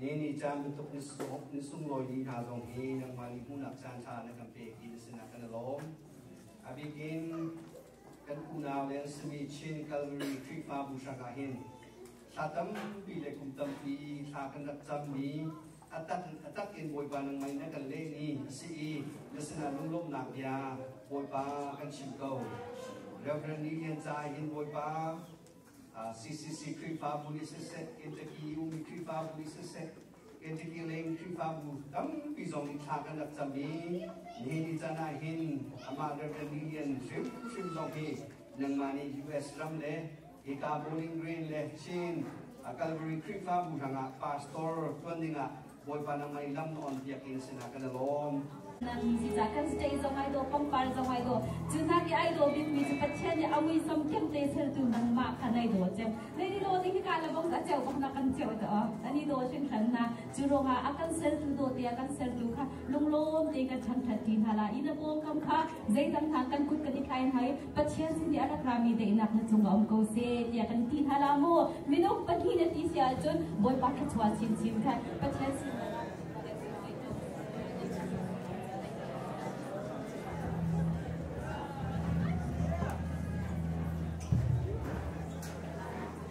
le nicaan bantuk na sunglawi ding hna zong hi nangmah nih hmuhnak caanṭha na kan pek ti na sinah kan i lawm. A bikin kan unau le an simi Chin Calvary Khrihfabu hrang ah hin thla tampi le kum tampi thla kan rak cammi a tak a tak in Bawipa nang mai na kan leh ni a si i na sinah lunglawmhnak bia Bawipa kan chim ko. Reverend Lee Lian Ca hin Bawipa CCC Khrihfabu nih siseh, Kentucky EU mi Khrihfabu nih siseh, Kentucky leng Khrihfabu tampi zong nih thla kan rak cam i nihin ni can ah hin amah Reverend Lilian hrimhrim zong hi nangmah nih US ram le hika Bowling Green le Chin a Calvary Khrihfabu hrangah pastor tuan dingah Bawipa na ngei lam na on piak in sinah ka la lawm. Zeicah kan stay zong ai do pangpar zong ai do cu hna ke ai do bin mi cu Pathian nih a ngui som thiam te seltu nangmah kha nai do cem nei ni do ding hi ka la bong a cheu bong na kan cheu to ani do hrin hran na cu ronga a kan seltu do te a kan seltu kha lunglawm te ka chan that ti hna la in a bom kam kha zeidang hna kan kut kan i thlai hmai Pathian sin i a rak rami daihnak na cung a um ko se tiah kan ti hna la mu minung pahnih na ti si ahcun Bawipa thluachuah chinchin kha Pathian sin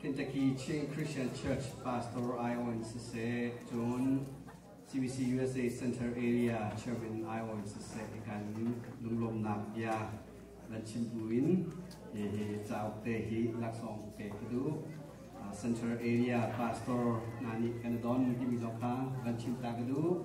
Kentucky Chin Christian Church pastor Ion siseh cun CBC USA Center Area Chairman Ion siseh i kan lunglawmnak bia van chim bu in hi cauk te hi laksawng ke ka duh Center Area pastor hna nih kan i don mi timi zong kha van chim ta ka duh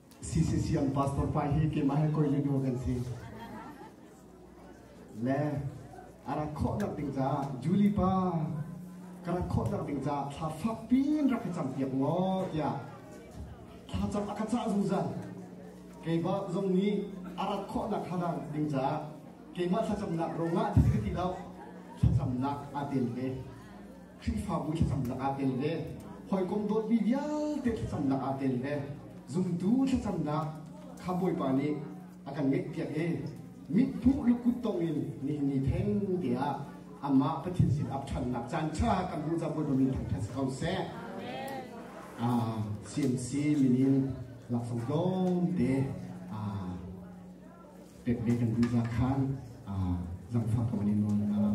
CCCM pastor pa hi keimah he koi le nu kan si. Le a rak khawhnak ding caah Julie pa ka rak khawhnak ding caah thla fak pin rak ka cam piak ngaw tiah thla cam a ka cah zungzal. Keiba zong nih a rak khawhnak halang ding caah keimah thlacamnak rongah ti ti lo thlacamnak a tel ve. Khrihfabu thlacam lakah tel le hawikom dawtmi vialte thlacam lakah tel le zumtu thlacamnak kha Bawipa nih a kan ngeihpiak i mithmuh lukut tongin nihin ni theng te ah amah Pathin sin ap ṭhannak caan ṭha kan hmuh caan buaibam in thangṭhat si ko seh. Ah, CMC minin laksawng tlawmte. Ah, pekmi kan duhnak khan zangfah ka van in nawl hna.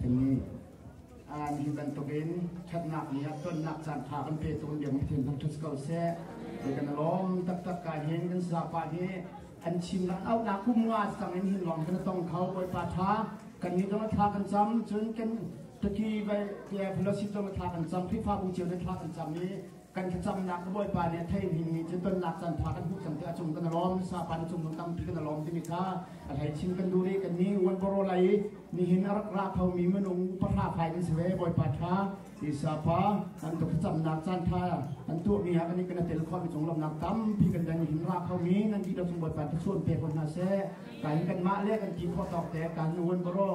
kan nih hi bantuk in ṭhatnak nih a tonnak caan ṭha kan pe tung diam hi thil hmang ṭhut ko seh. Kan lawm taktak ka hin kan zapa hi Kan chimnak auhnak kum nga sang in hin lawng kan tong kho Bawipa tha kan ni dong thla kan cam cun kan taki te pholosi dong thla kan cam Khrihfa bu cio ne thla kan cam i kan thlacamnak Bawipa nih thei hin mi cu tonnak can tha kan hmuh cang te a cung kan alom sa pan cung lung tampi kan alom timi kha a hlei chin kan du ri kan ni uan boro lai nihin a rak ra kho mi minung upahra fai kan si ve Bawipa tha Sisa pa an tuk camnak caanṭha an tuahmi ha kan i kana tel khawhmi conglawmhnak tampi kan dan i himra khomi nan dihlak cung Bawipa thlachuan pe ko hna seh. Kan kanmah le kan ti khawh tawk te kan nuan baro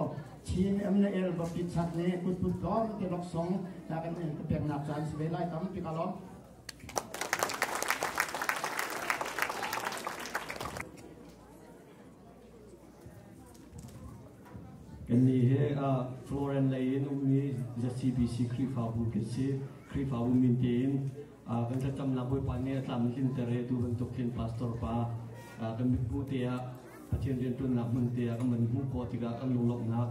chin em na el bapit sat ne kutput kom te loksong ta kan in ka peknak caan si ve lai tampi ka lom. Kannih hi Florence lei in ummi ZCBC Khrihfabu kan si. Khrihfabu min tein kan thlacamnak Bawipa nih a tlam hlinter he tu bantuk khin pastor pa kan mithmuh te ah Pathian rianṭuannak hmun te ah kan man hmuh khawh tikah kan lunglawmhnak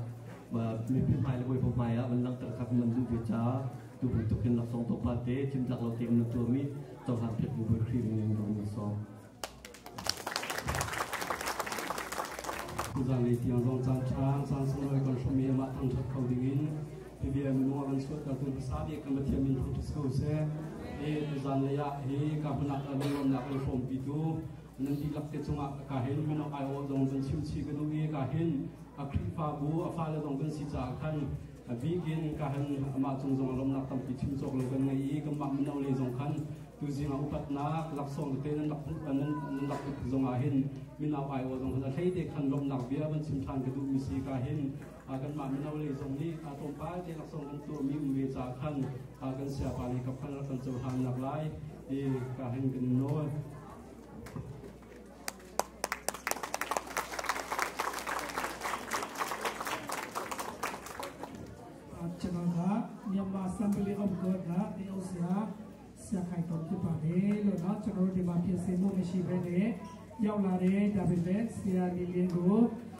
mipi hmai le Bawipa hmai ah kan langhter kha kan man hmuh ve caah tu bantuk khin laksawng tawpal te cimtlak lo te kan man tuahmi cohlan pek bu Bawi Khrih in in kan sawm. Zanlei tiang zong caan ṭha, caan sunglawi kan hrumi amah thangṭhat kho dingin PBM nu a kan suahtertu hmasa bik kan Pathian min thang si ko seh. Hi zanlei ah hi ka hmunak ah lunglawmnak le pawmpitu nan dihlak te cungah ka hin min awk aiawh zong kan chimchi ka duh i ka hin a Khrihfabu a fale zong kan si caah khan A bikin kahan amah cung zong lawmnak tampi chim cawk lo kan ngei i kanmah mino le zong khan tuzing ah upatnak laksawng te nan rak nan rak put zong ah hin minau aiawh zong khan a hlei te khan lawmnak bia van chim ṭhan ka duhmi si ka hin kanmah mino le zong nih kaa tlawmpal te laksawng kan tuahmi um ve ca khan kan siapa ni kap khan rak kan cohlannak lai ti ka hin kan nawl channel kha Myanmar Assembly of God na AOC ha sia khai tom ti pa ne lo na channel de ma pia se mo me shi ve ne yaw la re david le sia li le go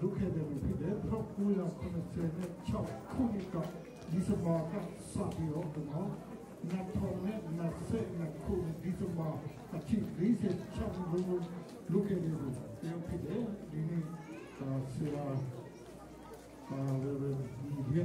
duhe de mi de thok ku la khon se ne chau khu ni ka di sa ba ka sa bi o ma na thong ne na se na khu di sa ba a chi ri se chau lu lu ke de bu te phi de ni ni sira Reverend Lee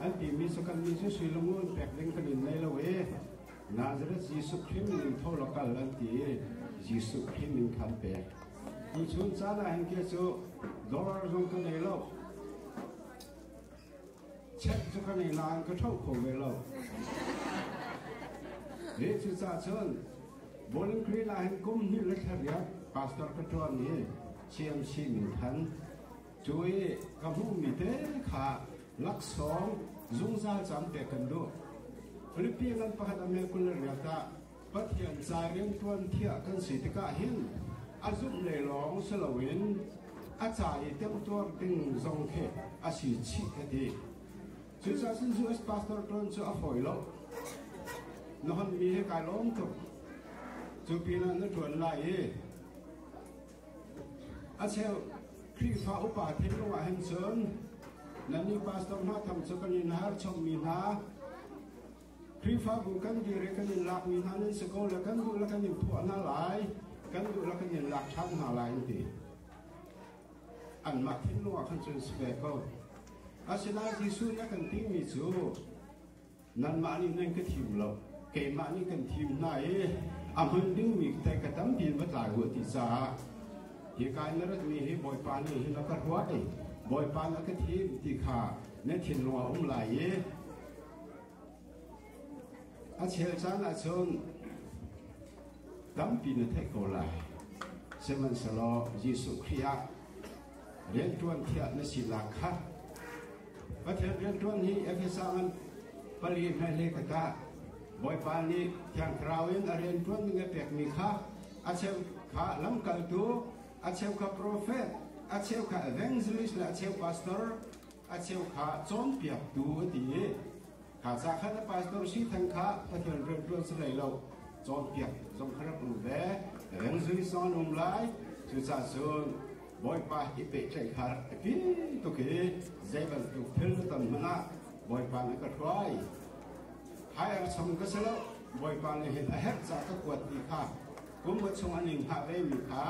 An timi sakanmi cu sui lungrun pek ding kan in nei lo i Nazareth Jesuh Khrih min tho law kal an ti i Jesuh Khrih min kha an pek. Tuchun caan ah hin kia cu dollar zong ka ngei lo. Check cu ka ngei nain ka tho kho ve lo. Hi cucah cun Bowling Green ah hin kum hnih le thariak pastor ka ṭuan i Chiamshi min than Cu i ka hmuhmi te kha laksawng zungzal caan pek kan duh. Filipi ngan pakhat a mel kul le rial tah Pathian ca rianṭuan thiah kan si tikah hin a zumhlei lawng si loin a ca i temtuar ding zong khi a si chih ka ti. Cucaah cun US pastor ṭuan cu a fawi lo. Na honmi hi kai lawm tuk. Cu pinah na ṭuan lai i A cheu Khrihfa upa theng ruangah hin cun nannih pastor hna thang cu kan in har chommi hna Khrihfabu kan dir i kan in lakmi hna nan si ko le kan duh le kan in phuah hna lai kan duh le kan in lak ṭhan hna lai an ti anmah thinlung ah khan cun si ve ko asinain Jesuh na kan timi cu Nanmah nih nan ka thim lo, keimah nih kan thim hna i a hman dingmi tei ka tampi in va tlai u ti caah hika in na ratmi hi Bawipa nih hin a ka ruat i Bawipa na ka thim ti kha na thinlung a um lai i a chel caan ahcun tampi na theih ko lai. Sihmanhsehlaw Jesuh Khrih ah rianṭuan thiah na si la kha. Pathian rianṭuan hi Efesa an pali hna le ka tah Bawipa nih Thiang Thlarau in a rian ṭuan ning a pekmi kha a cheu kha lamkaltu, a cheu kha profet, a cheu kha evangelist le a cheu pastor, a cheu kha cawnpiaktu a ti i Thaza khan a pastor si theng kha Pathian rianṭuan si hlei lo cawnpiak zong kha rak um ve ren zui son um lai cucacun Bawipa hi pehtlaih kha rak i pi tuk i zei bantuk thil na ton hmanh ah Bawipa nih ka hruai hai ar cham ka si lo Bawipa nih hin a herh ca ka kuat ti kha kum a chung a ning hna ve mi kha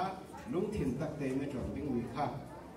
lungthin tak tein na ṭuan dingmi kha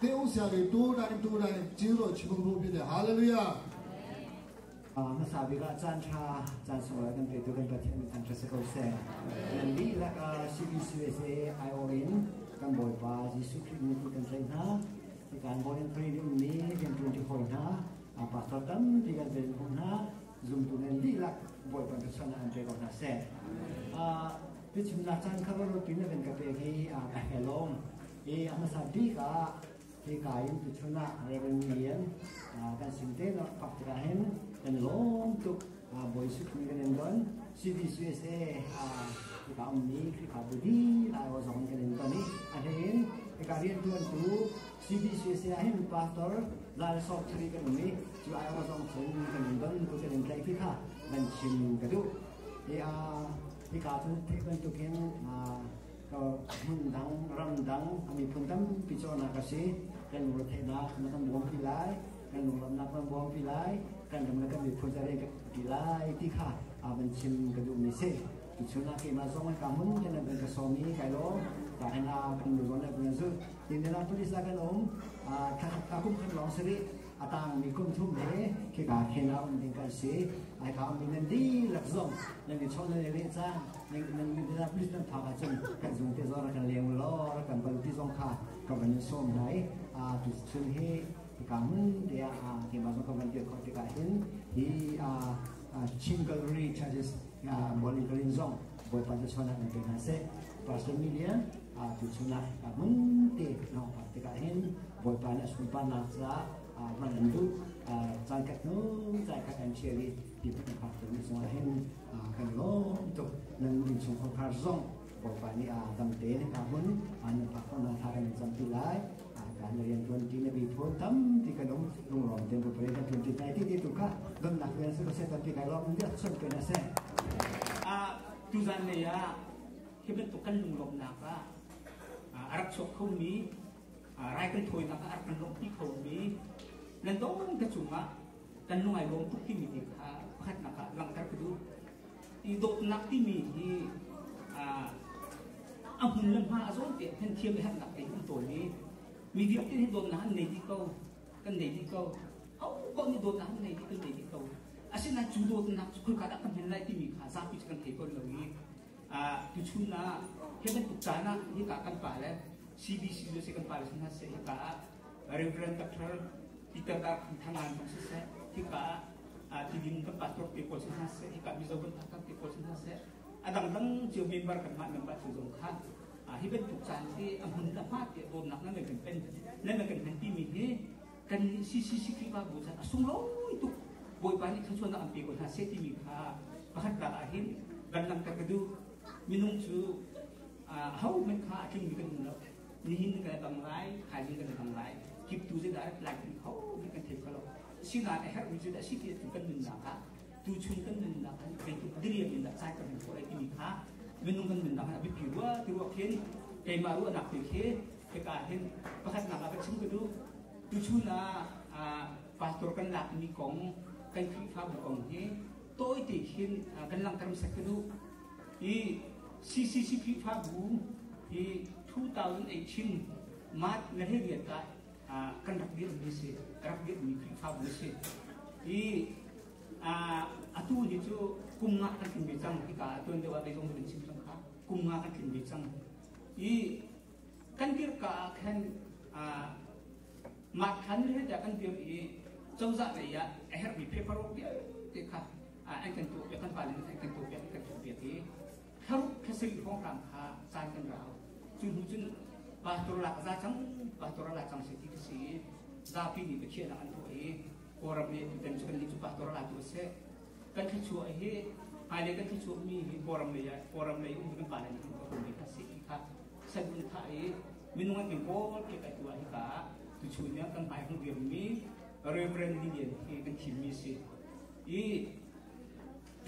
te um sia ke tu dai tu dai chiu ro chimung ru bi de hallelujah hmasa bik ah caan tha caan sawra kan pe tu kan pathian min an se ko se nan li la ka CBCUSA IO in kan bawipa Jesu Christ ni kan sai hna kan born and pray ding mi kan tun ti ho hna a pastor tam ti kan ven hum hna zum tu nan li la boy pan sana an pe ko na se a Tuchunnak caan kha rutin na vin ka pek hi a helom i a hmasa bik ah hika in tuchun ah Reverend Lian kan sin te no kap tikah hin kan lawm tuk boi suk mi kan don CVC USA hika um mi Khrihfa bu di lai o zong kan don i a hlein hika rian tuan tu CVC USA hin pastor lal sok thiri kan um i cu ai o zong chun kan don tu kan in tlai khi kha kan chim ka du i a Nika cu theih bantukin hmundang, ramdang a miphun tampi cawhnak a si. Kan lung retheihnak na kan bawm pi lai, kan lunglamnak kan bawm pi lai, kan ram le kan miphun zarian kan pi lai ti kha van chim ka duhmi si. Cucunah keimah zong an ka hmun kan an ka sawm i kai lawm tahin a kan luron le kan zulh. Tin, Minneapolis ah kan um. Thakung kan lawng si rih. a tangmi kum thum le khika khen a um ding kan si ai kha mi nan di lak zong nan i chawh nan i leh caan nan nan nan da plis nan thak ahcun kan zung te zor kan leng lo kan ban ti zong kha ka van in som dai a tu chun hi ka mun te a ke ma zong ka van ti kho te ka hin hi a Chin Gallery Churches monitoring zong boy pa chona na ke na se Pastor Million Ah, tu chungah ah mun te na pa te ka hin boipa na sunpa na sa ah man an du ah chan ka nu chan ka kan chia li pi pa ka tu ni chungah hin ah kan lo to nan in chung khor khar zong boipa ni ah dam te na ka hun ah nan pa khon na tha kan cham pi lai ah kan na rian tuan ti na bi phon tam ti kan om lung rom te bu pare ta 2019 ti tu ka don nak rian su se ta ti ka rom dia chon pe na se ah tu zan ne ya Hi bantuk kan lunglawmhnak ah a rak chuak khomi rai kan thawinak ah a rak kan lawmhpi khomi landong ka cungah kan lungai lawm tuk timi ti kha pakhatnak ah langhter ka duh i dawtnak timi hi a hmun le hma a zawn te kan thiam i harnak te kan tawl i mi vialte hi dawtnak an nei dih ko kan nei dih ko hauko nih dawtnak an nei dih kan nei dih ko asinain cu dawtnak cu khulka dah kan hman lai timi kha zapi cu kan thei ko lo i tuchun ah hi bantuk caan ah hika kan pale CBC le si kan pale sin hase hika ah Reverend Dr. Peter Dar Thanglan kong hase hika ah tidin kan pastor te ko sin hase hika mizo kan takam te ko sin hase adangdang cio member kan ma member tu zong kha hi bantuk caan hi a mun ta ma te don nak na men kan pen na men kan pen ti mi hi kannih CCCTV bu chan a sunglawi tuk Bawipa nih thluachuahnak an pe ko hna seh timi kha pakhat rak ah hin kan langhter ka duh minung cu ahohmanh kha a tlingmi kan um lo nihin kan dang lai thaizing kan dang lai kip tu zai direct lai kan ho kan thei kho lo sinan a herhmi cu da si ti kan nunnak ah tu chun kan nunnak an zeitik diriam in da sai kan ko ai timi kha minung kan nunnak an a bipi wa ti wa khin keimah ruahnak te khi Hika ah hin pakhatnak ah va chim ka duh. Tuchun ah pastor kan lakmi kong, kan Khrihfabu kong hi tawite hin kan langhter sak ka duh. I CCC Khrihfabu hi 2018 March na he riat ah kan rak dirmi si, rak dirmi Khrihfabu si. I atu ni cu kum nga kan tlin ve cang hika atuan deuh ah beikong kan chim cang kha kum nga kan tlin ve cang i kan kirka ah khan mah khan heta kan dir i cozah lei ah a herhmi paper rok vialte kha an kan tuah piak kan pale an kan tuah piak an kan tuah piak i kharuk khasiri hongkang kha caan kan rau cu hnu cun pastor lak za cang pastor la cang se ti ka si zapi ni bakhiana an tuah i kawram ne tutan chu kan ni chu pastor la tu se kan thluachuah hi hmailei kan thluachuahmi hi kawlram lei ah kawlram lei um kan pale kan hmuhmi kha si kha sanun tha i minung an kan kawl ke kai tuah hi ka tuchun yang kan bai hnu diammi reverend lian hi kan thimmi si i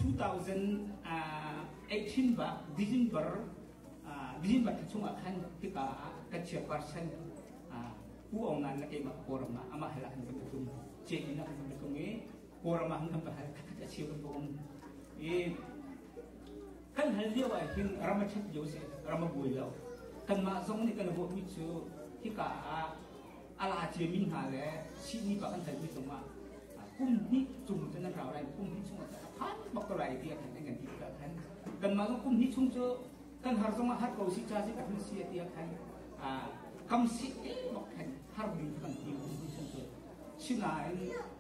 2018 ba December December ta chung khan tika ka chia percent ku ong nan na ke ma koram ma ama hala han ka tum che ina han ka tum i Kawlram ah kan pakhat a cheu kan bawm i kan hal lio ah hin ram a ṭhat lio seh ram a buai lo kanmah zong nih kan ruahmi cu hika ah a la ciami hna le sihni pa kan halmi zongah kum hnih chung cun an rau lai kum hnih chung a phan bak ko lai ti a khan an kan ti ka khan kanmah zong kum hnih chung cu kan har zongah har ko si cha si ka hun si ti a khan kam si bak khan har ding kan ti kum hnih chung cu sinain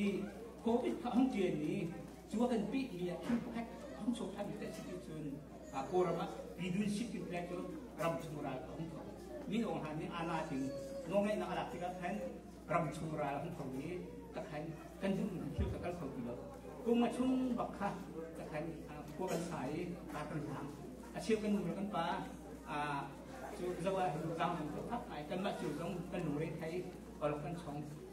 i Covid kha an ṭialmi cu a kan pehmi ah thil pakhat hong chuak ṭhanmi kan si ti cun Kawlram ah Pidun City Flag cu ram chung ral a hung tho. Min Aung Hlaing nih aa lasing nawlngeihnak a lak tikah khan ram chung ral a hung tho i ka khan kan duhmi thil ka kal kho ti lo. Kum nga chung bak kha ka khan khua kan sa i kaa kan hlang. A cheu kan nu le kan pa cu zawa lu tlang tu thak ngai kanmah cu zong kan lungre thai olok kan chong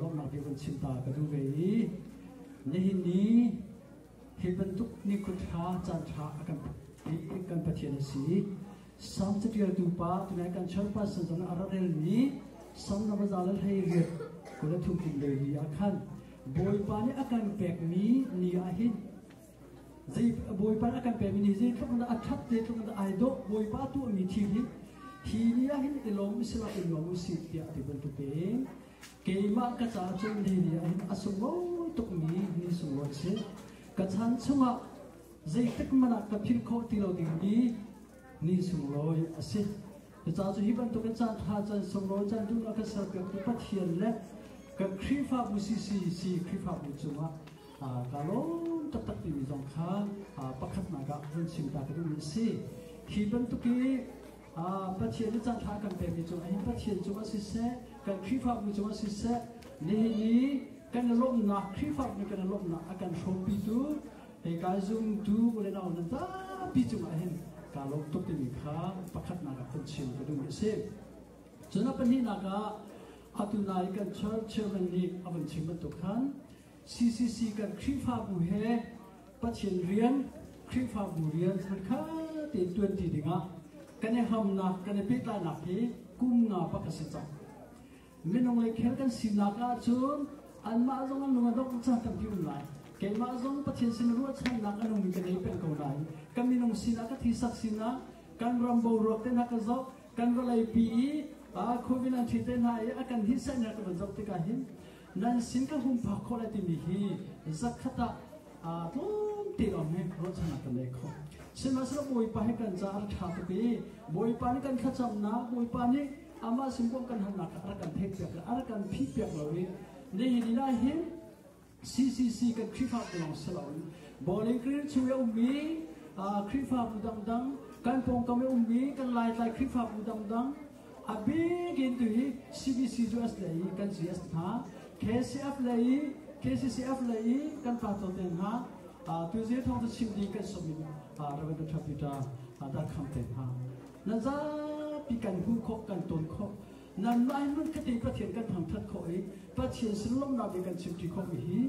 lawmnak bia van chim ta ka duh ve i nihin ni hi bantuk nikhut hra caan ṭha a kan kan Pathian a si sam catialtu pa tunai kan char person zong a radelmi sam ramaza lal hei riat kula thuktin lei ni ah khan bawipa nih a kan pekmi ni ah hin Bawipa a kan pekmi nih zeitluk in dah a ṭhat zeitluk in dah ai dawh Bawipa a tuahmi thil hi hi ni ah hin i lawm u sila i nuam u sih tiah ti bantukin keimah ka ca cu ni ni ah hin a sunglawi tukmi ni sunglawi a si ka chan chungah zeitluk hmanh ah ka philh khawh ti lo dingmi ni sunglawi a si cucaah cu hi bantukin caan ṭha caan sunglawi caan duhnak ka serpiaktu Pathian le kan Khrihfabu CCC Khrihfabu cungah tlawn taktak timi zong kha pakhatnak ah vun chim ta ka duhmi a si khi bantuk i pathian i cangthla kan pemi cungah hin pathian cungah siseh kan khrihfabu cungah siseh nihin i kan i lawmhnak khrihfabu nih kan i lawmhnak a kan hrawmpitu hei kai zumtu ule nau nan zapi cungah hin kaa lawm tuk timi kha pakhatnak ah kan chim ka duhmi a si cun a pahnihnak ah atu nai kan church chairman nih a vun chim bantuk khan CCC kan Khrihfabu he Pathian rian, Khrihfabu rian kha tein tuanti dingah kan i hamnak, kan i pehtlainak hi kum nga pak a si cang. Minung le khel kan sinak ahcun anmah zong an lung a dongh caan tampi um lai. Keimah zong Pathian sin ruahchannak an ummi kan ei peng ko lai. Kan minung sinah ka thisak sinah kan ram boruak te hna ka zoh, kan vawleipi i COVID-19 te hna i a kan hisainak ka van zoh tikah hin nan sin ka hum phak khawh le timi hi zakhat ah aa tlawm te awng he ruahchannak kan nei kho sihmanhsehlaw bawipa he kan caah a ṭha tuk i bawipa nih kan thlacamnak bawipa nih amah sin kong kan halnak kha a rak kan theihpiak le a rak kan phihpiak lo i nihin ni ah hin CCC kan Khrihfa te lawng si loin Bowling Green chung i a ummi Khrihfabu dangdang kan pawngkam i ummi kan Laitlai Khrihfabu dangdang A bik in tu hi CBC cu as le i kan CS hna, KCF le i KCCF le i kan pato te hna, tu zir thawng cu chim ding kan som in Reverend Dr. Peter dar kham te hna. Nan zapi kan hmuh khawh kan ton khawh nanmah hmun kati Pathian kan thangthat khawh i Pathian sin lawmhnak i kan chimti khawh mi hi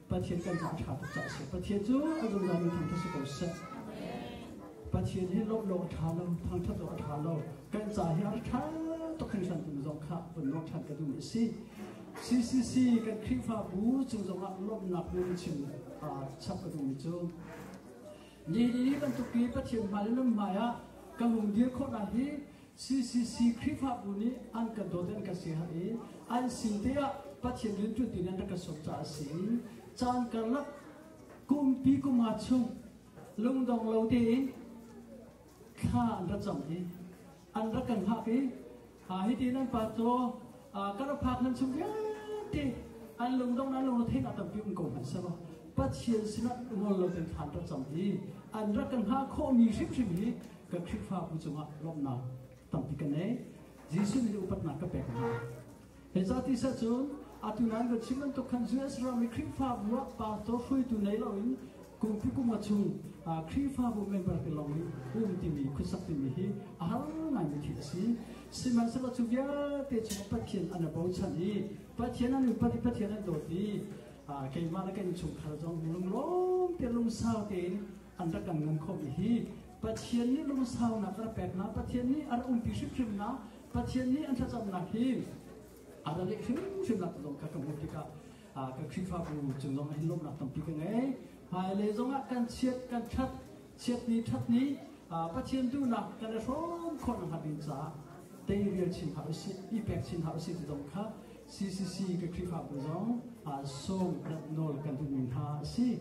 Pathian kan caah ṭha tuk caah a si. Pathian cu a zungzalmi thangṭhat si ko seh. Pathian hi lawmh awk a ṭha lo, thangṭhat awk a ṭha lo. Kan ca hi a ṭha tuk hringhran tung zong kha vun ruah ṭhan ka duh a si. CCC kan Khrihfabu cung zongah lawmhnak bia in chim aa chap ka duhmi cu nihin ni bantuk i Pathian hmai le nun hmai ah ka lungdir khawh lai hi CCC Khrihfabu nih an kan dawt in kan si hna i an sin te ah Pathian rian ṭuan ding in rak ka sawm caah a si. Caan karlak kumpi kuma chung lungdong lo tein thla an ra cam i an rak kan hngak i hitin an pa caw kan rak phak nan chung vialte an lungdong an lungrethein a tampi um ko hmanh selaw Pathian sinah ngol lo ten thlan ra cam i an rak kan hngak khawhmi hrimhrim hi Ka Khrihfabu cungah lawmhnak tampi ka nei. Jesuh nih upatnak ka pek hna. Hi ca tisa cu atu nan kan chim bantuk khan US ram i Khrihfabu ah pastor hruaitu nei loin kumpi kum a chung Khrihfabu member te lawng nih um timi khuasak timi hi a har ngaimi thil a si. Sihmanhsehlaw cu vialte chung Pathian an a bochan i Pathian an upat i Pathian an dawt i keimah le kan chungkhar zong lunglawm te lungsau tein an rak kan ngan khawh mi hi Pathian nih lungsaunak a rak peknak Pathian nih a rak umpi hrimhrimnak Pathian nih an thlacamnak hi a ra leh hrimhrimnak zong kha ka hmuh tikah ka Khrihfabu cung zong ah hin lawmhnak tampi ka ngei hmailei zong ah kan chiat kan ṭhat chiat ni ṭhat ni Pathian duhnak kan i hrawm khawhnak hnga ding caah teirial chin hna usih i pek chin hna usih ti zong kha CCC ka Khrihfabu zong sawm rat nawl kan duhmi hna a si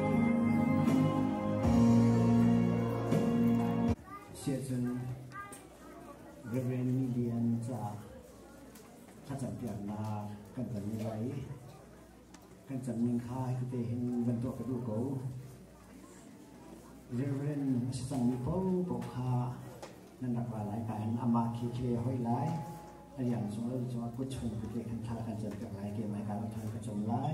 Siahcun Reverend Midian caah thlacampiaknak kan ton ni lai i kan cam ning kha hikute hin van tuah ka duh ko. Reverend a si cangmi paohpaoh kha nan rak ra lai ka hin amah khi khi hoi lai a lian zong lo cungah kut chung kute kan tha kan can piak lai ke mai ka rak than ka chom lai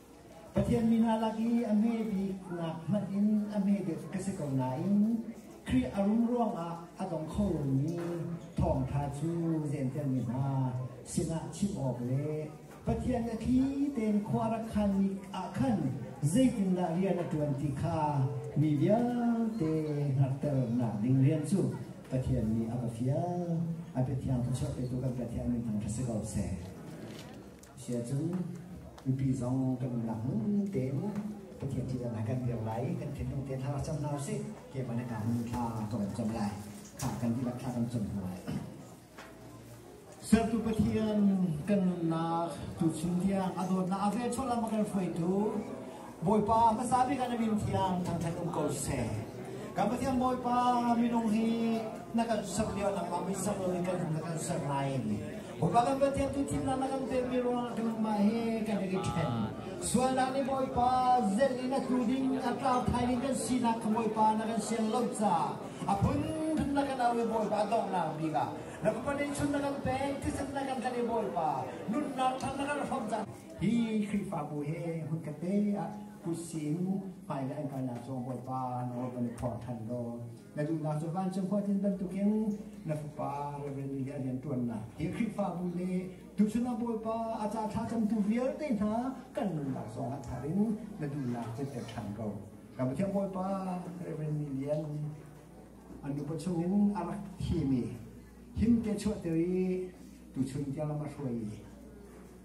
Pathian mi hna lak i a hme biknak hmanh in a hme deuh ka si ko nain Khrih a rum ruangah a dong kho lomi thawngṭha cu jentelmi hna sinah chim awk le Pathian a thli tein khua rak khanmi ah khan zeitindah rian a ṭuan ti kha mi vialte hngalhternak ding rian cu Pathian nih a va fial. A biathiang cu cheuh petu kan Pathian minthang kha si ko seh. Chia cun mipi zong kan umnak hmun tein Pathian thihdan ah kan dir lai, kan thinlung te hla rak cam hna usih. Ke van kan hun thla kan rak cam lai. Kha kan dihlak thla kan cam hna lai. Sertu Pathian kan nunnak tu chim tiang a dawtnak a vel chola ma kan hruaitu Bawipa hmasa bik ah na min thiang thangṭhat um ko seh. Kan Pathian Bawipa minung hi na kan ser lio nangmah min ser lo in kan hung na kan ser nain Bawipa kan Pathian tu thimnak na kan pekmi ruangah tu mah hi kan i ṭhen. Sualnak nih Bawipa zelh in a tlu ding a tlau thai ding kan sinak kha Bawipa na kan sian lo caah a phunphun na kan au i Bawipa donghnak bik ah na papa nih chun na kan pek thisen na kan kan i Bawipa nunnak thang na kan hrawm cang. Hi Khrihfabu he hun ka te ah tusin hmaile an kalnak cu Bawipa nawl kan i phor ṭhan law na duhnak cu vancung huatin bantukin na fapa Reverend nih a rianṭuannak hi Khrihfabu le tuchan ah Bawipa a ca thlacamtu vialte hna kan nunnak zongah thar in na duhnak cu pek ṭhan ko. Ka Pathian Bawipa Reverend nih lian an upa chungin a rak thimi him te chuahter i tuchun tiang lam a hruai i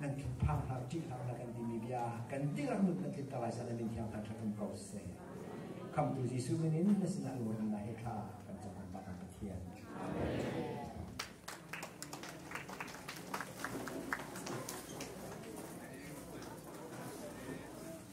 nan thinphang hlah, ṭih hlah na kan timi bia kan dihlak nun na tlinter lai zan min thiang ṭha kan ko seh. Khamtu Jesuh min in na sinah luan na he tha kan cakap bak Pathian.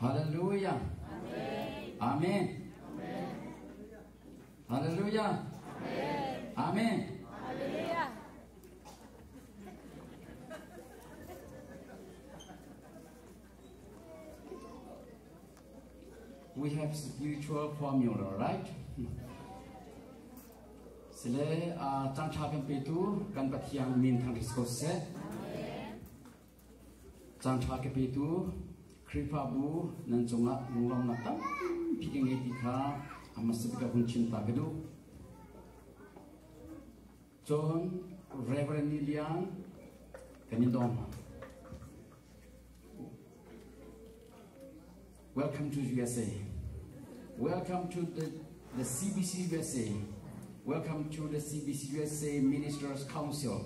Hallelujah. Amen. Hallelujah. Amen. We have spiritual formula, right? Sile uh, tangtha kan petu kan pathiang min thang ri ko se. Caanṭha ka petu Khrihfabu nan cungah lunglawmhnak tampi ka ngei ti kha a hmasat ka hun thinta ka duh. Cun Reverend Lilian kan i dawm hna. Welcome to USA. Welcome to the, the CBC USA. Welcome to the CBC USA Ministers Council.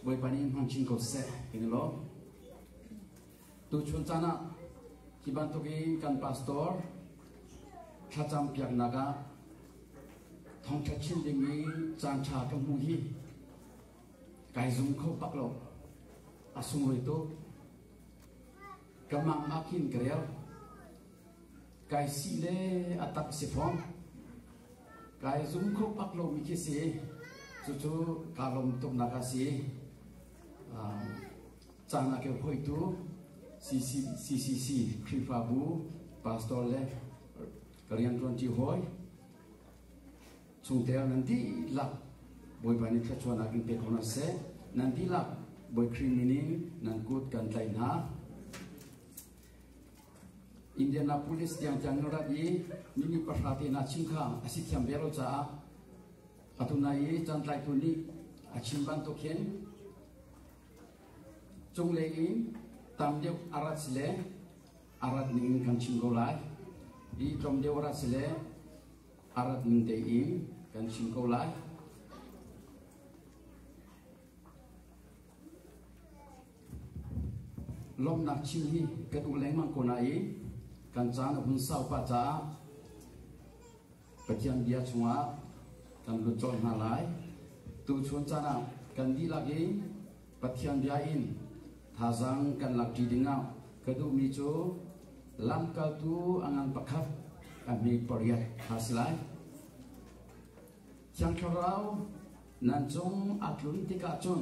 Bawipa nih in hmang chin ko seh tiin lawm. Tuchun caan ah hi bantuk in kan pastor thlacam piaknak ah thongtha chin ding i caanṭha kan hmuh hi kai zum kho bak lo a sungruai tuk ka mang ah khin ka rel Kai sih le a tak si fawn. Kai zum kho pak lomi khi si. Cucu kaa lawm tuknak a si. Uh, caan a keu hoitu CCC Khrihfabu pastor le ka rian tuan ti hoi. Chungtel nan di lak bawipa ni thluachuan akin pe khona se nan di lak boi khrin ni nan kut kan tlai na Indianapolis tiang tiang na rat i mi nih pahra te naa chim kha a si thiam ve lo caah atu nai i cantlaitu nih a chim bantuk hin cunglei in tam deuh a rat si le a rat ning in kan chim ko lai i tlawm deuh a rat si le a rat ning te in kan chim ko lai Lawmhnak chim hi kan um lengmang ko nain kan caan a hun sau pah caah Pathian bia chungah kan lut colh hna lai. Tuchun caan ah kan dihlak in Pathian bia in thazaang kan lakṭi dingah ka duhmi cu lamkaltu a ngan pakhat a mi pariat kha si lai. Thiang Thlarau nan cung a tlun tikah cun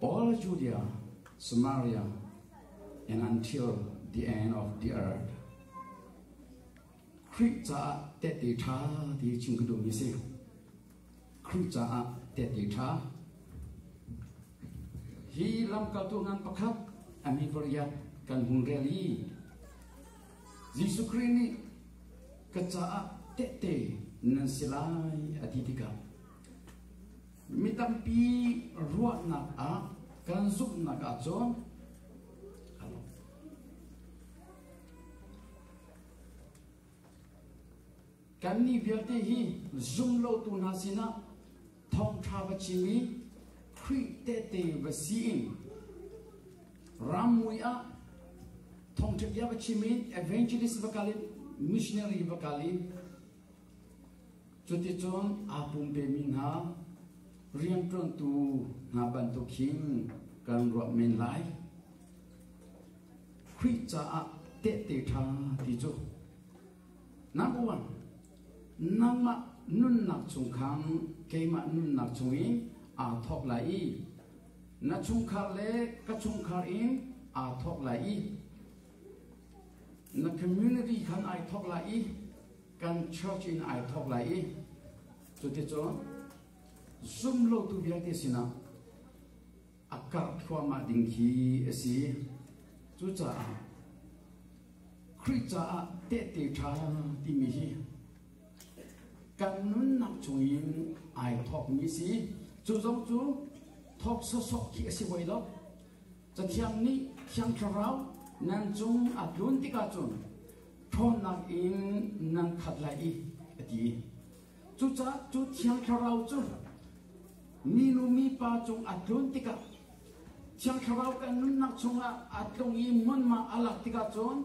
Paul Judea, Samaria, and until the end of the earth. Khrih caah tehte ṭha ti chim ka duhmi si. Khrih caah tehte ṭha. Hi lamkaltu ngan pakhat ami variat kan hung rel i Jesuh Khrih nih ka caah tehte nan si lai a ti tikah Mi tampi ruahnak ah kan zumhnak ah cun kannih vialte hi zumlotu hna sinah thawngṭha va chim i Khrih tehte va si in rammui ah thawngṭha bia va chim in evangelist va kal in missionary va kal in Cuticun aa pumpemi hna rianṭuantu hna bantuk hin kan ruah men lai. Khrih caah tehte ṭha ti cu. Number one, nangmah nunnak chung khan keimah nunnak chungin aa thawk lai i na chungkhar le ka chungkhar in aa thawk lai i na community khan ai thawk lai i kan church in ai thawk lai i cuticun zumlotu vialte sinah a karh thluahmah ding khi a si cucaah Khrih caah tehte ṭha timi hi kan nunnak chung in ai thawkmi si cu zong cu thawk sawsawk khi a si hoi lo cathiang nih thiang thlarau nan cung a tlun tikah cun ṭhawnnak in nan khat lai i a ti. Cucaah cu thiang thlarau cu minu mipa cung a tlun tikah thiang thlarau kan nunnak chungah a tlung i munma a lak tikah cun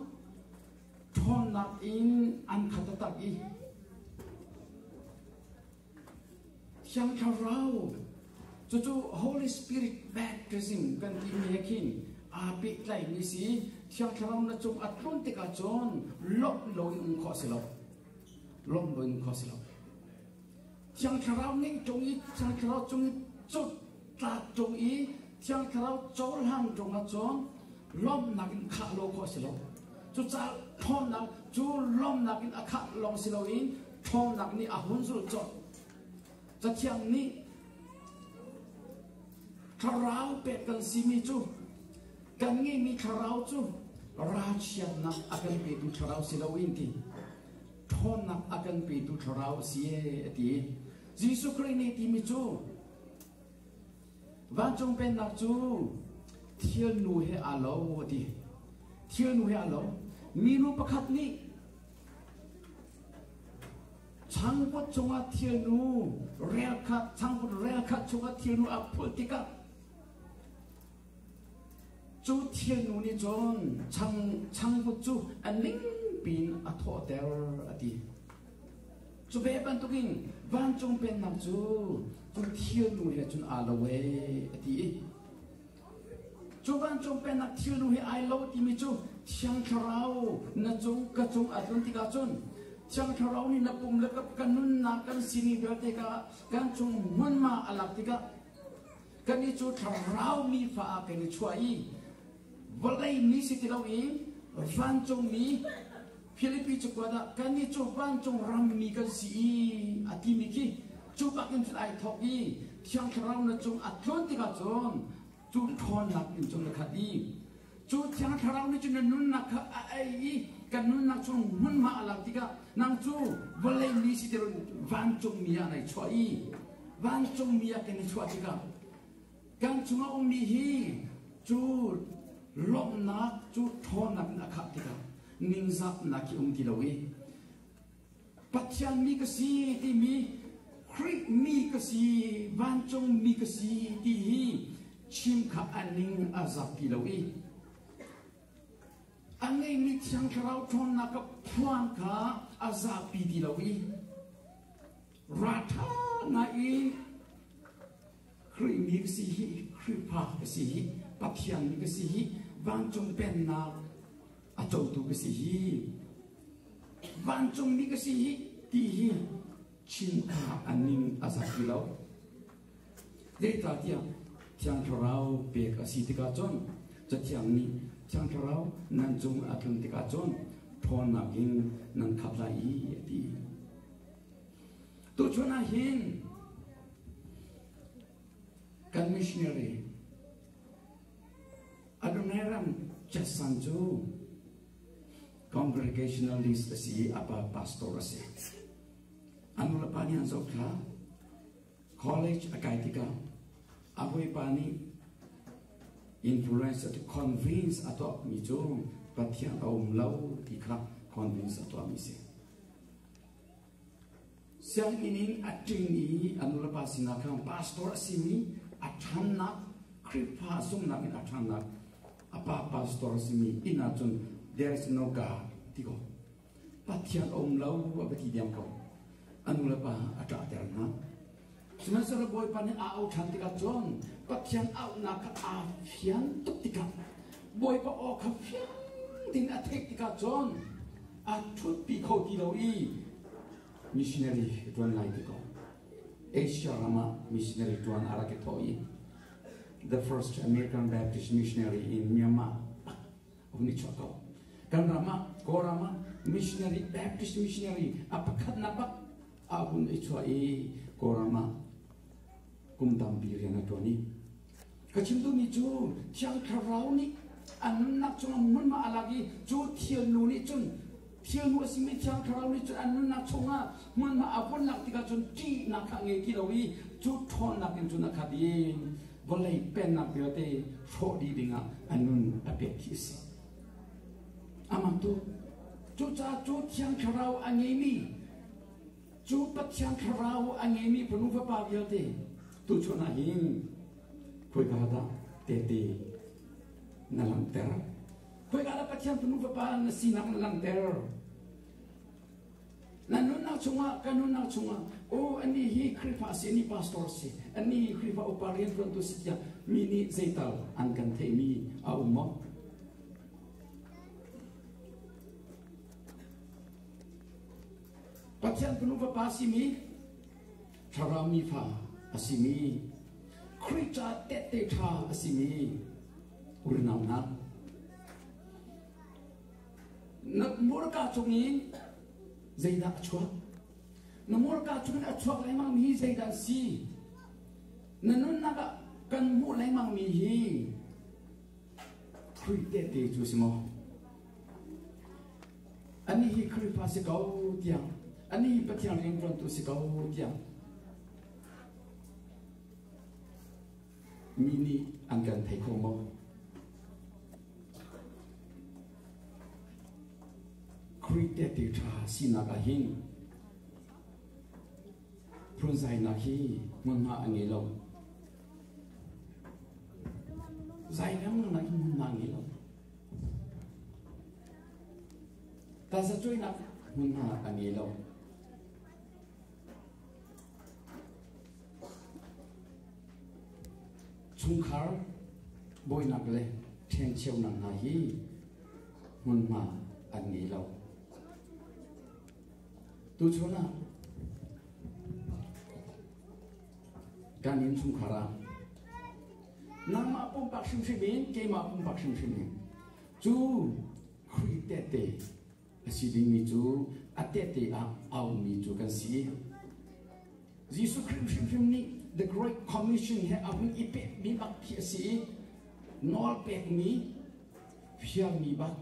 ṭhawnnak in an khat a tak i Thiang Thlarau cucu Holy Spirit baptism kan timi he khin aa pehtlaimi si Thiang Thlarau na cung a tlawn tikah cun lawmh loin um khawh si lo lawmh loin um khawh si lo Thiang Thlarau ning cung i Thiang Thlarau cung i cut Tlak ṭung i Thiang Thlarau cohlang ṭung ahcun lawmhnak in khah lo khawh a si lo. Cucaah ṭhawnnak cu lawmhnak in a khah lawng si loin ṭhawnnak nih a hun zul colh. Cathiang nih thlarau pek kan simi cu kan ngeihmi thlarau cu ralchiatnak a kan petu thlarau si loin ti ṭhawnnak a kan petu thlarau a si ee a ti. Jesuh Khrih nih timi cu Vancung Pennak cu thilnu he aa lo a ti. Thilnu he aa lo. Minu pakhat nih changvut cungah thilnu rel khat, changvut rel khat chungah thilnu a phulh tikah cu thilnu nih cun chang, changvut cu a ning piin a thawhter a ti. Cu ve bantukin vancung pennak cu thilnu he cun aa lo e a ti i cu vancung pennak thilnu he ai lo timi cu thiang thlarau na cung ka cung a tlun tikah cun thiang thlarau nih na pum le kan nunnak kan sining vialte ka kan cung hmunma a lak tikah kan i cu thlarau mi fa ah kan i chuah i vawlei mi si ti loin vancungmi Philippi cu kuat ah kannih cu vancung rammi kan si i a timi khi cu bakin cun ai thawk i thiang thlarau na cung a tluan tikah cun cun ṭhawnnak in cun na khat i cu thiang thlarau nih cun na nunnak kha a ei i kan nunnak chung hmunhma a lak tikah nang cu vawlei mi si ti loin vancungmi ah nai chuah i vancungmi ah kan i chuah tikah Kan cung a ummi hi cu lawmhnak cu ṭhawnnak in a khah tikah ningzaknak hi um ti lo i Pathian mi ka si timi Khrih mi ka si vancung mi ka si ti hi chim kha a ning a zak ti lo i a ngeimi thiang thlarau ṭhawnnak ka phuan kha a zapi ti lo i ra ṭha na in Khrihmi ka si hi, Khrihfa ka si hi, Pathian ka si hi, vancung pennak a cotu ka si hi, vancungmi ka si hi, ti hi chinta a ning a zat ti lo. Zeicahtiah Thiang Thlarau pek a si tikah cun, Cathiang nih Thiang Thlarau nan cung a tlung tikah cun, ṭhawnnak in nan khat lai i a ti. Tuchun ah hin kan missionary Adonai Ram Chassan cu congregationalist a si i a pa pastor a si. Anu le pa nih an zoh kha college a kai tikah a hawipa nih influence a convince a tuahmi cu Pathian a um lo ti kha convince a tuahmi si. Sianginn in a ṭingmi a nulepa sinah khan pastor a simi a ṭhannak Khrihfa zumhnak in a ṭhannak a pa pastor a simi inn ah cun there is no God ti ko. Pathian a um lo a va ti diam ko. A nulepa a ṭahter hna. Sihmanhsehlaw Bawipa nih aa ohan tikah cun Pathian auhnak kha aa fian tuk tikah Bawipa aw kha fiang ding a theih tikah cun aa ṭhutpi kho ti lo i missionary ka ṭuan lai ti ko. Asia ram ah missionary ṭuan a rak i thawh i the first American Baptist missionary in Myanmar a hun i chuah ko. Kan ram ah, Kawlram ah missionary, Baptist missionary a pakhatnak bak fa hun ei chuah i kawlram ah kum tampi rian a ṭuan i ka chimtumi cu thiang thlarau nih a nunnak cungah hmunma a lak i cu thilnu nih cun thilnu a simi thiang thlarau nih cun an nunnak chungah hmunma a vun lak tikah cun ṭihnak kha a ngei ti lo i cu ṭhawnnak in cun a khat i vawlei pennak vialte hrawh dih dingah a nun a pek khi a si amah tu cucaah cu thiang thlarau a ngeimi Cu Pathian Thlarau a ngeimi fanu fapa vialte tu chun ah hin khoika dah tehte na langhter? Khoika dah Pathian fanu fapa na sinak na langhter? Na nunnak chungah ka nunnak chungah oh ani hi Khrifa si ani pastor si ani hi Khrifa upa rian tuantu si tiah mi nih zeital an kan theihmi a um maw? Pathian fanu fapa simi thlarau mi fa a simi Khrih ca tehte ṭha a simi unau nat nat murka cung in zeidah a chuak na murka cung in a chuak lengmang mi hi zeidah si na nunnak ah kan hmuh lengmang mi hi Khrih tehte cu si maw Anih hi Khrihfa si ko tiang, anih hi Pathian rianṭuantu si ko tiang mi nih an kan thei kho maw? Greek tehte ṭha sinak ah hin phunzainak hi hmunhma a ngei lo. Zai ngang nak hi hmunhma a ngei lo. Tasacuinak hmun ah a ngei lo. Chungkhar bawinak le ṭhencheunak hna hi hmunhma an ngei lo. Tuchun ah kan inn chungkhar ah nangmah pumpak hrimhrim in keimah pumpak hrimhrim in cu Khrih tehte a si dingmi cu a tehte ah a ummi cu kan si. Jesuh Khrih hrimhrim nih The Great Commission he a hun i pekmi bak khi a si i nawl pekmi fialmi bak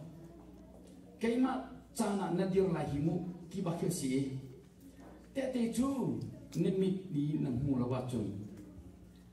keimah caan ah na dir lai hi mu ti bak khi a si i tehte cu na mit i na hmu lo ahcun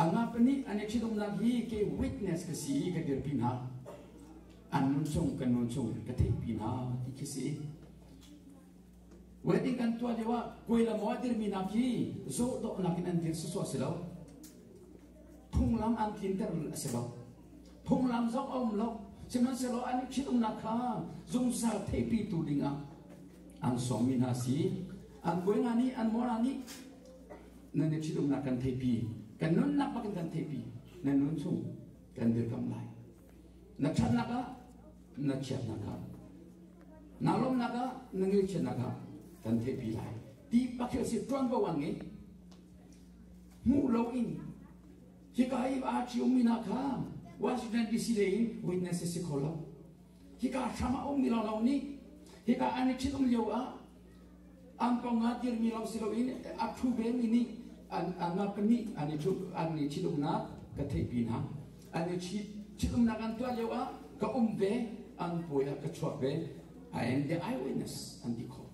Amah pahnih an i ṭhitumnak hi ke witness ka si i ka dirpi hna. An nunchung kan nunchung ka theihpi hna ti khi si. Wedding kan tuah lio ah kuai le maw a dirmi nak hi zoh dawhnak in an dir sawsawh si lo. Phunglam an tlinter a si lo. Phunglam zong a um lo. Sihmanhsehlaw an i ṭhitumnak kha zungzal theihpi tu ding ah an sawmmi hna si. An kuai nga nih an mawra nih nan i ṭhitumnak kan theihpi kan nunnak bak in kan theihpi na nun chung kan dirkamh lai na ṭhatnak ah na chiatnak ah na lawmnak ah na ngilchiatnak ah kan theihpi lai ti bak khi a si ṭuanvo a ngei hmuh lo in hika i aa ṭhiummi hna kha Washington DC lei in witness a si kho lo hika hram ah a ummi lawlaw nih hika an i ṭhitum lio ah Ang kong ah dirhmi lo si loin a phu vemi nih anmah pahnih an i ṭhitumnak ka theihpi hna. An i ṭhitumnak an tuah lio ah ka um ve, an puai ah ka chuak ve, and their eyewitness an ti khawh.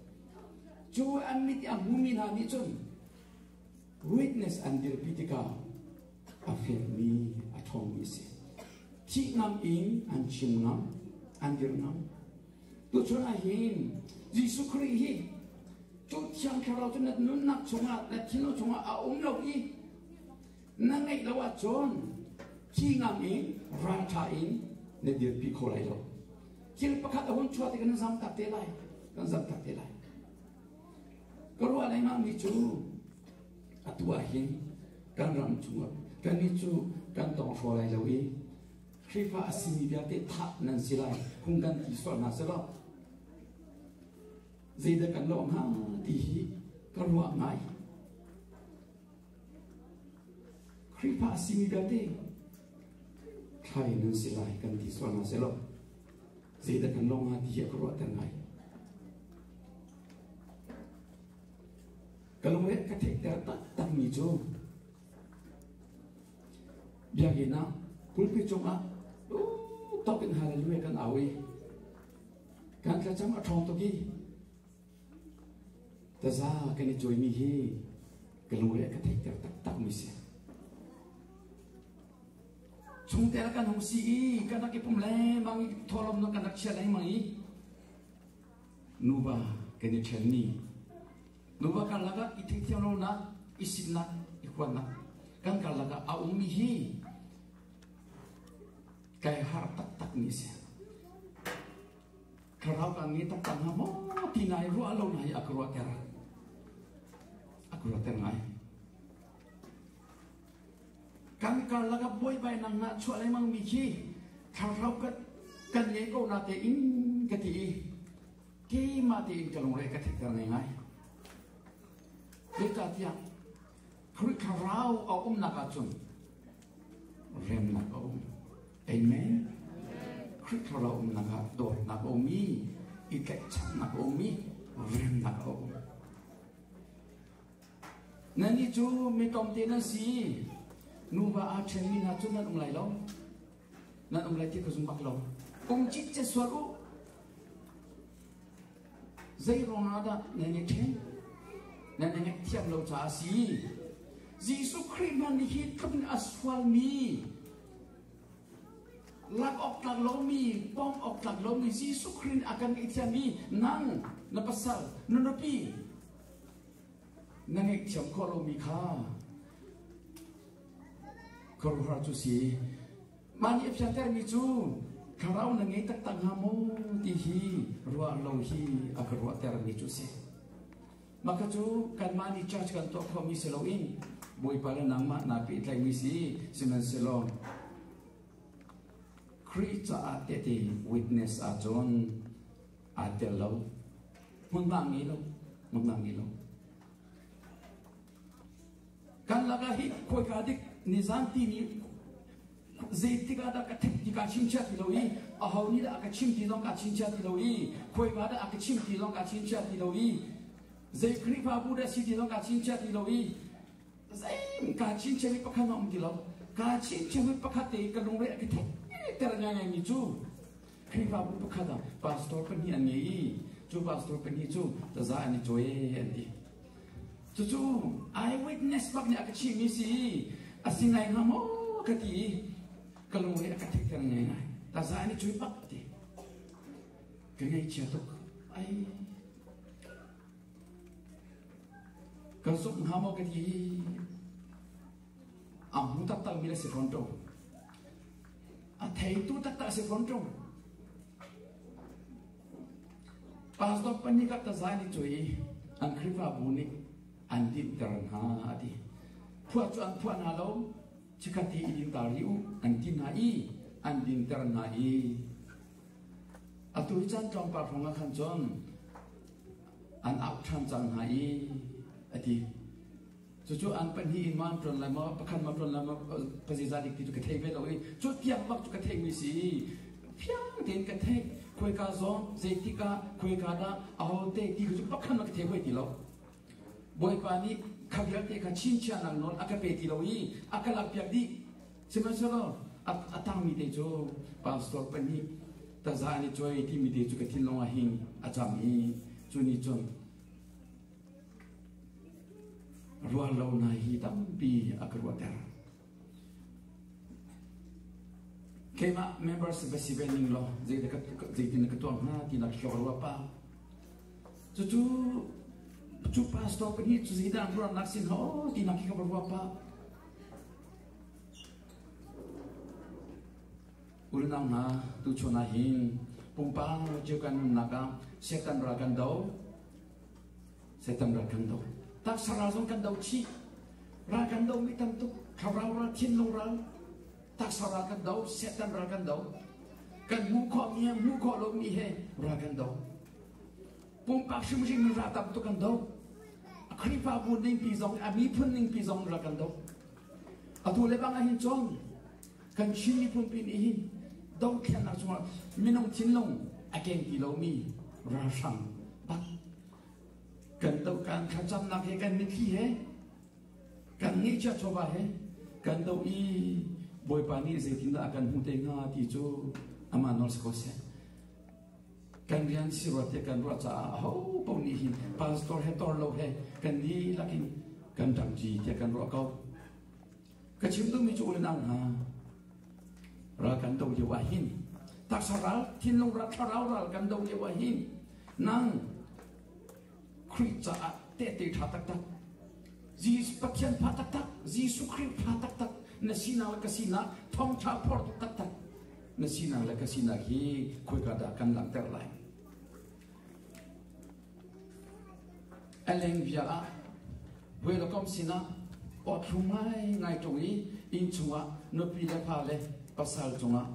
Cu an mit i a hmumi hna nih cun witness an dirpi tikah a fekmi, a ṭhawngmi a si. Thih ngam in an chim ngam, an dir ngam. Tuchun ah hin Jesuh Khrih hi cu thiang thlarau cu na nunnak chungah na thinlung chungah a um lo i na ngeih lo ahcun thi ngam in rangṭha in na dirpi kho lai lo. Thil pakhat a hun chuah ti kan zamtak te lai. Kan zamtak te lai. Ka ruah lengmangmi cu atu ah hin kan ram chungah kannih cu kan tawng hraw lai lo i Khrihfa a simi vialte thah nan si lai. Phung kan ti sual hna selaw zeidah kan lawh hnga ti hi ka ruah ngai. Khrihfa a simi vialte thlai nan si lai kan ti sual hna selaw zeidah kan lawng hnga ti hi ka ruahter ngai. Ka lungre ka theihter takmi cu Biakinn ah pulpit cungah tuk in hallelujah kan au i kan thlacam a ṭhawng tuk i taza kan i cuaimi hi ka lungre ka theihter taktakmi si. Chungtel kan hung si i kan rak i pum lengmang i thawlawm kan rak chia lengmang i Nuva kan i ṭhenmi. Nuva karlak ah i theihthiam lonak, i sinnak, i huatnak. Kan karlak ah a ummi hi kai har taktakmi a si. Thlarau kan nge taktak hnga maw ti nai ruah lo nai a ka ruahter. A ka ruahter ngai. Kan karlak ah buaibainak nga chuah lengmangmi khi thlarau kan, kan ngei ko na tein ka ti i keimah tein ka lungre ka thetter ngai ngai. Zeicah tiah Khrih thlarau a umnak ah cun remnak a um. Amen. Khrih thlarau umnak ah dawtnak a um i i tlaihchannak a um i remnak a um. Nannih cu mi tlawmte nan si i nuva aa ṭhenmi hna cu nan um lai lo. Nan um lai ti ka zum bak lo. Kum cikcek sual u. Zei ruang ah dah nan i ṭhen? Nan i ngaihthiam lo caah a si. Jesuh Khrih hmanh nih hi tluk in a sualmi lak awk tlak lomi, bawm awk tlak lomi Jesuh Khrih in a kan ngaihthiam i nang na pasal, na nupi, na ngaihthiam khawh lomi kha khuaruhar cu si mah nih a fiantermi cu thlarau na ngei taktak hnga maw ti hi ruah lo hi a ka ruahtermi cu si mah ka cu kanmah nih church kan tuah khomi si loin bawipa le nangmah naa pehtlaimi si sihmanhsehlaw Khrih caah tehte witness ahcun aa tel lo. Hmunhma ngi lo. Hmunhma ngi lo. Kan laka hi khuika dik nizan ti ni zeitik ah dah ka thep ti ka chim chia ti lo i a ho ni dah ka chim ti zong ka chim chia ti lo i khuika dah ka chim ti zong ka chim chia ti lo i zei Khrihfabu dah si ti zong ka chim chia ti lo i zeim ka chin chemi pakhat a um ti lo ka chin chemi pakhat te ka lungre a ki thek ter ngai ngai mi cu Khrihfabu pakhat ah pastor pahnih an ngei i cu pastor pahnih cu taza an i cuai an ti. Cucu I witness bak nih a ka chihmi si i a si ngai hnga maw ka ti i ka lungre a ka thetter ngai ngai. Taza an i cuai bak ti. Ka ngaihchia tuk. Ai. Kan suk hnga maw ka ti. A hmu tattalmi le si fawn to. A theitu taktak a si fawn ṭung. Pastor pahnih kap tazai nih cui an Khrihfabu nih an dinhter hna a ti. Phuah cu an phuah hna lo, chikhat hi i dintar hi u an ti hna i an dinter hna i atu i chan tlawmpal hrawng ah khan cun an auh ṭhan cang hna i a ti. Cucu ang pahnih in ma ṭuan lai maw, pakhat ma ṭuan lai maw, ka ziaza dik ti cu ka thei ve lo i cu tiang bak cu ka theihmi si. Fiang tein ka theih. Khuaika zong, zeitik ah, khuaika dah, ahote ti cu pakhat ma ka thei hoi ti lo. Bawipa nih kha vialte kha chinchia nang nawl a ka pe ti lo i a ka lakpiak dih. Sihmanhsehlaw a tangmi te cu pastor pahnih taza an i coi timi te cu ka thinlung ah hin a cang i cu nih cun Ruahlonak hi tampi a ka ruahter. Keimah members va si ve ning law zeitin na ka tuam hna ti nak hio ruah pa. Cucu cu pastor pahnih cu zeidan ruahnak sin ha o ti nak hi ka ruah pa. Ulnau hna tu chona hin pumpa cio kan nunnak ah setan ra kan do Satan ral kan do. Taksara zong kan do chih. Ral kan do mi tam tuk. Khavraung ral, thinlung ral. Taksara kan do, Satan ral kan do. Kan mu kho mi he, mu kho lo mi he ral kan do. Pumpak hrimhrim in ral tam tuk kan do. Khrifabu ning pi zong, a mi phun ning pi zong ral kan do. Atu le bang ahin chong, kan Chin miphunpi nih hi domthlennak cungah minung thinlung a keng ti lomi ralhrang bat kan dokan thlacamnak he kan mitthli he kan ngeihcia chawva he kan do i bawipa nih zeitindah a kan hmu te hnga ti cu ama nor se ko seh kan rian si ruat te kan ruah caah ho po nih hin pastor he tor lo he kan ni lakin kan ṭamci tiah kan ruah ko Ka chim duhmi cu u le nau hna, ral kan do lio ah hin, taksa ral, thinlung ral, thlarau ral kan do lio ah hin, nang Khrih caah tehte ṭha taktak, Jesus Pathian fa taktak, Jesuh Khrih fa taktak, na sinak le ka sinak thawngṭha phortu taktak na sinak le ka sinak hi khoika dah kan langhter lai? A lengvia ah welcome sinah awthlum ngaingai ṭung i inn chungah nupi le pa le pasal cungah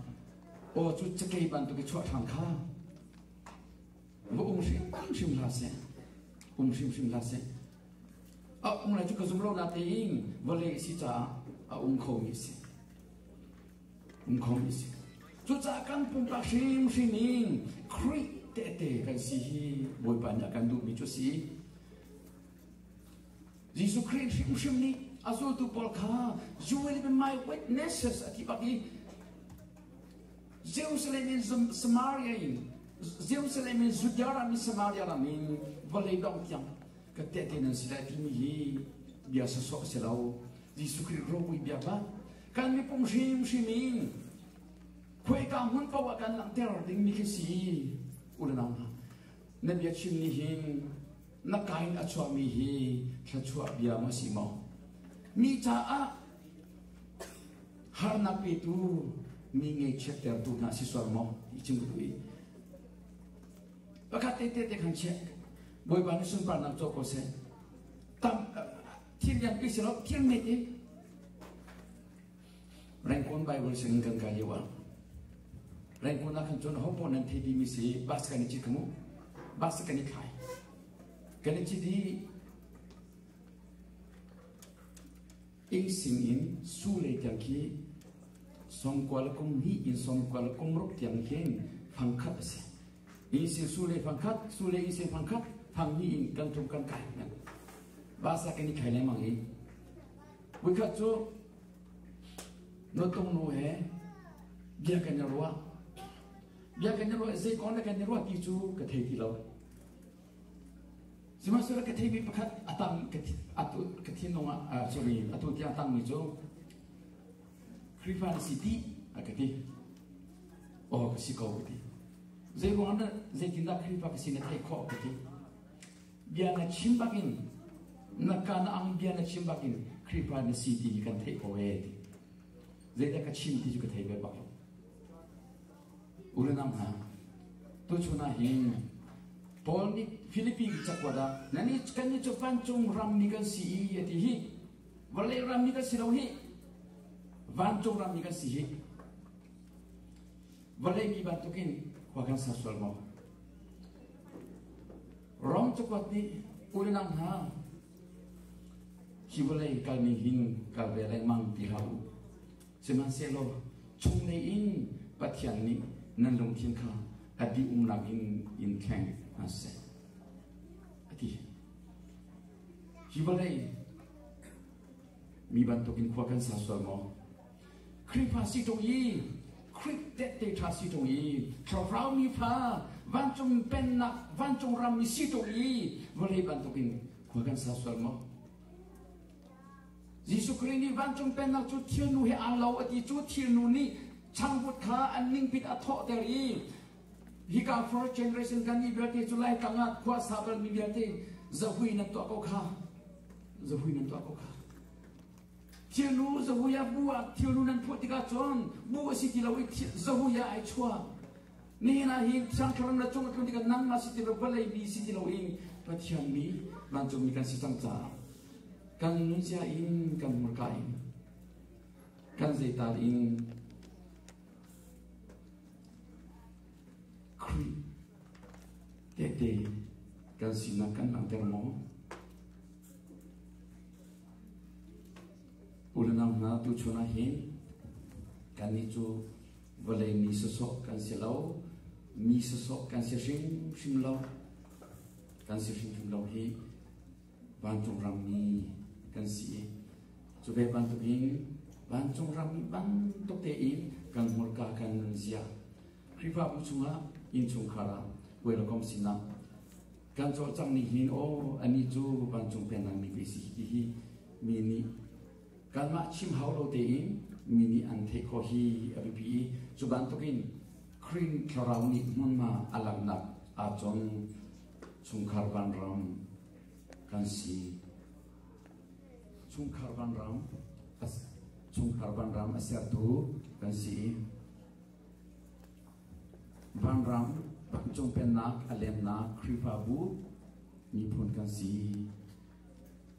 aw cu cakei bantuk i chuah ṭhan kha va um hrimhrim hlah seh um hrimhrim hlah seh a um lai cu ka zum lo natein vale a si caah a um khomi a si Cucaah kan pumpak hrimhrim in Khrih tehte kan si hi Bawipa nih a kan duhmi cu a si. Jesuh Khrih hrimhrim nih a zultu pawl kha you will be my witnesses a ti bak i Jerusalem in Samaria in Jerusalem in Judea ram in Samaria ram in vawlei dong tiang ka tehte nan si lai timi hi bia sawsawh a si lo. Jesuh Khrih ropui bia ba kan miphung hrimhrim in khuaika hmun paoh ah kan langhter dingmi khi si unau na bia chim nih hin na ka in a chuahmi hi thluachuah bia maw si maw mi caah harnak petu mi ngeichiattertu hna si sual maw i cim tu i pakhat te te te khan che bawipa ni sunparnak co ko seh tam Thim biak pi si lo, thiang nei te. Rengkuan Bible sing kan kai yawa. Rengkuan ah kan cun ho po nan thei mi si bas kan i chit kamu. Bas kan i khai. Kan i chit hi ing sing in su lei tiang khi som kwa la kum ni in som kwa la kum ruk tiang hin phang khat asi. Ise sule fangkhat, sule ise fangkhat, thang hi in kan tum kan kai nan. Ba sa kan i khai lengmang hi. Wikhat cu no tong nu he bia kan i ruah. Bia kan i ruah, zei kon le kan i ruah ti cu ka thei ti lo. Sihmahsura ka thei mi pakhat atang ka thin nong ah sorry atu tiang atang mi cu Khrihfa na si ti a ka ti. Aw ka si ko ka ti. Zeiruang ah zeitindah Khrihfa ka si na theih khawh ka ti. Bia na chim bakin na ka na ang bia na chim bakin Khrihfa na si ti kan theih ko e ti. Zeidah ka chim ti cu ka thei ve bak lo. Urenam hna. Tu chuna hin Paul nih Philippi cakuat ah nan i kan i cu pancung ram ni kan si i ati hi Vale rammi kan si lo hi vancung rammi kan si hi vale mi bantukin khua kan ser sual maw rom cakuat nih ulenang hna hi vawlei kalmi hin kal ve lengmang ti hau sihmanhsehlaw chung lei in pathian nih nan lungthin kha a dih umnak in in theng hna seh a ti Hi vawlei mi bantukin khua kan sa sual maw? Khrihfa si ṭung i Khrih tehte ṭha si ṭung i thlarau mi fa vancung pennak vancung rammi si ṭung i vawlei bantukin khua kan sa sual maw? Jesuh Khrih nih vancung pennak cu thilnu he aa lo a ti cu thilnu nih changvut kha an ningpit a thawhter i Hika first generation kan nih vialte cu Laitlang ah khuasa balmi vialte zahui nan tuah ko kha zahui nan tuah ko kha thianu zahui ah bu ah thianu nan phuah tikah cun bu a si ti lo i zahui ah ai chuah nihin ah hi sangtharam le cung tlun tikah nangmah si ti lo vawlei mi si ti lo in pathian mi vancungmi kan si cang caah kan nunzia in kan hmurka in kan zeital in Khrih tehte kan sinak kan langhter maw? Ulenang hna tu chun ah hin kan ni cu vawlei mi sosok kan si lo mi sosok kan si hrim hrim lo kan si hrim hrim lo hi vancung rammi kan si i cu ve bantuk in vancung rammi bantuk tein kan hmurka kan nun zia Khrihfabu chungah innchungkhar ah welcome sinak kan cawlcanghning hin o ani cu vancung penang ni ve si ti hi mi nih kanmah chim hau lo tein mi nih an theih kho hi a biapi i cu bantukin Krin thlarau nih hmunma a langhnak ah cun chungkhar vanram kan si chungkhar vanram chungkhar vanram a sertu kan si vanram vancung pennak a lemnak khrihfabu miphun kan si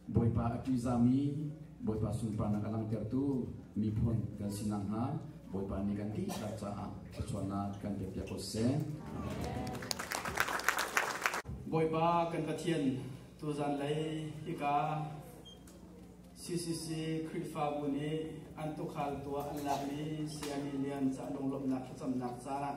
Bawipa a ṭihzami, Bawipa sunparnak a langhtertu miphun kan si nakhnga Bawipa nih kan dihlak caah thluachuahnak kan pekpiak ko seh. Bawipa kan Pathian, tuzan lei hika CCC Khrihfabu nih an tukhal tuah an lakmi sayami lian cahnung lawmhnak thlacamnak caah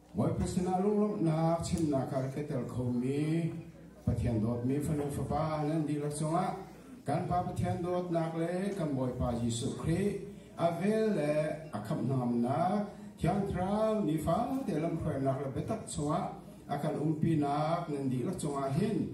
Bawipa sinah lunglawmhnak chimnak ah ka tel khomi Pathian dawtmi fanu fapa nan dihlak cungah kan Pa Pathian dawtnak le kan Bawipa Jesuh Khrih a vel le a khamhnamnak thiangthlarau nifate lamhruainak le biatak chungah a kan umpinak nan dihlak cungah hin